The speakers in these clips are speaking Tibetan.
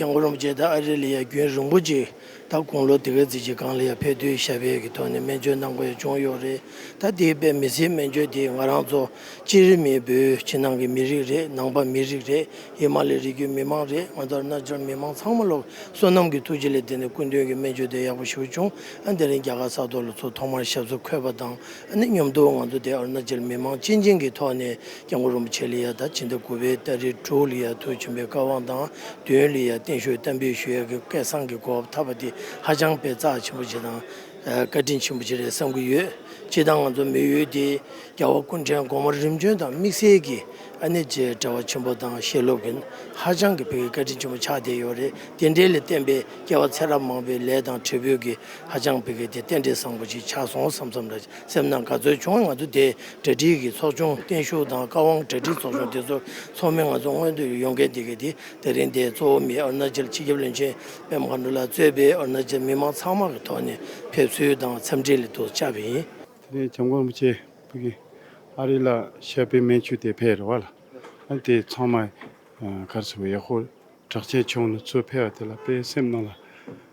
ཀྱང་ཀོ་རིན་པོ་ཆེ་དང་ཨ་རི་ལི་ཡ་རྒྱུན་རིང་པོ་ཅིག་ད་དགུང་ལོ་དེ་གའི་རྫི་ཆི་ཀང་ལི་ཡ་ཕེ་ཐུའི་ཞབས་གཡས་ཀྱི་ཐོག་ནས་སྨན་བཅོས་གནང་དགོས་བྱུང་ཡོད་རེད་ད་དེའི་པད་མི་སིའི་སྨན་བཅོས་དེ་ང་རང་ཚོ་སྤྱིར་རི་མི་བོད་ཕྱི་ནང་གི་མི་རིགས་རེད་ནང་པ་མི་རིགས་རེད་ཡེ་མ་ལི་རི་རྒྱུད་མི་མང་རེད་ང་ཚོར་རྣལ་འབྱོར་མི་མང་ཚང་མ་ལོག་བསོད་ནམས་ཀྱི་ཐུགས་རྗེ་ལས་དེ་ནས་སྐུ་མདུན་གྱི་སྨན་བཅོས་དེ་ཡག་པོ་ཞུ་བྱུང་ཨ་དེ་རིང་རྒྱ་གར་ས་ཐོ་ལ་ཚོ་ཐོག་མར་ཞབས་སོར་འཁོད་པ་དང་ཨ་ནི་སྙོམ་དུ་ང་ཚོ་དེ་ཨ་རུ་ན་ཅལ་མི་མང་སྤྱི་མགྱིན་གྱི་ཐོག་ནས་སྐྱབས་མགོན་རིན་པོ་ཆེ་ལི་ཡ་དང་ཕྱི་ཟླ་དགུ་པའི་ཏཱ་རི་ཀྲོའུ་ལི་ཡ་དུ་བྱོན་པའི་བཀའ་དབང་དང་བདུན་ལི་ཡ་བརྟན་བཞུགས་གཏམ་དཔེའི་ཞུ་ཡ་གི་སྐད་གསང་གི་གོ་བ་ཕྲ་བ་འདི་ཧ་ཅང་དཔེ་རྩ་ཆེན་པོ་ཆེ་དང། བཀའ་དྲིན་ཆེན་པོ་ཆེ་རེད་བསམ་གྱི་ཡོད། སྤྱིར་བཏང་ང་ཚོ་མི་ཡུལ་འདི་རྒྱ་བོད་ཀུན་ཕྲན་གོང་མ་རིམ་བྱོན་དང་དམིགས་བསལ་གྱི་ཨ་ནེ་བཅས་བཀྲ་བ་ཆེན་པོ་དང་ཤེས་སློབ་ཀྱིན་ཧ་ཅང་གི་ཕེ་གི་བཀའ་དྲིན་ཆེན་པོ་ཆགས་བསྡད་ཡོད་རེད་དེ་འདྲའི་ལས་བསྟན་པའི་སྐྱེ་བ་ཚེ་རབས་མང་པོའི་ལས་དང་བྲེལ་བོད་ཀྱི་ཧ་ཅང་ཕེ་གི་དེ་རྟེན་འབྲེལ་བཟང་པོ་ཞིག་ཆགས་སོང་བསམ་བསམ་ལ། སེམས་ནང་ག་ཚོད་བྱུང་བ་ང་ཚོ་དེ་གྲ་སྒྲིག་གིས་ཚོགས་ཆུང་བརྟན་བཞུགས་དང་བཀའ་དབང་གྲ་སྒྲིག་ཚོགས་ཆུང་དེ་ཚོར་ཚོགས་མི་ང་ཚོ་སྔོན་དུ་ཡོང་མཁན་དེ་གི་དེ་དེ་རིང་དེ་གཙོ་བོ་མི་ཨུར་ན་ཅལ་སྤྱི་ཁྱབ་བློན་ཆེན་པད་མ་མཁའ་འགྲོ་ལགས་གཙོས་པའི་ཨུར་ན་ཅལ་མི་མང་ཚང་མ་གི་ཐོག་ནས་ཕེབས་ཚུལ་དང་འཚམས་འདྲི་ལ་དུ་བཅར་བ་ཡིན། དེ་ནས་བྱམས་མགོན་རིན་པོ་ཆེ་ཨ་རི་ལ་ཤར་པའི་མན་ཆུ་དེ་ཕེབས་རི་བ་ལ་ཨ་དེ་ཚང་མ་གར་སོང་བས་ཡག་ཧོ་གྲགས་ཆེན་ཆུང་ནུ་ཚོས་ཕེབས་བ་དེ་ལ་དཔེ་སེམས་ནང་ལ་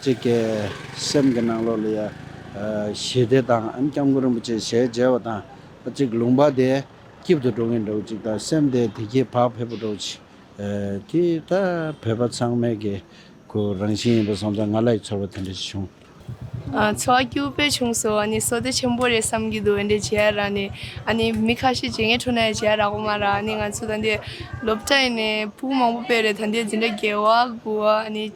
གཅིག་གི་སེམས་ཀྱི་ནང་ལོགས་ལ་ཡང་ཞི་བདེ་དང་ཨན་སྐྱབས་མགོན་རིན་པོ་ཆེའི་ཞལ་མཇལ་བ་དང་གཅིག་ལུང་པ་དེ་སྐྱིབ་ཏུ་འགྲོ་གིན་འདུག་གཅིག་ད་སེམས་དེ་དེ་སྐྱིད་བག་ཕེབས་པོ་འདུག་ཅིག་དེ་ད་བོད་པ་ཚང་མའི་གི་གུ་རང་བཞིན་ཡིན་པ་སོང་ཙང་ང་ལ་ཡི་ཚོར་བ་དེ་འདྲ་ཞིག་བྱུང། འཚོ་བ་སྐྱུར་པོས་བྱུང་སོ་ཨ་ནི་བསོད་བདེ་ཆེན་པོ་རེད་བསམ་གྱི་འདུག་འདི་ཇེ་ཡ་ར་ནི་ཨ་ནི་མི་ཁ་ཤས་ཇེ་ངན་འཕྲོ་ན་ཡང་ཇེ་ཡ་ར་གོ་མ་ར་ཨ་ནི་ང་ཚོ་ད་འདི་སློབ་གྲྭ་ཡིན་ནས་བུ་མང་པོ་པས་རེད་ད་འདི་འཛིན་གྲྭ་རྒྱལ་བ་དགུ་བ་ཨ་ནི།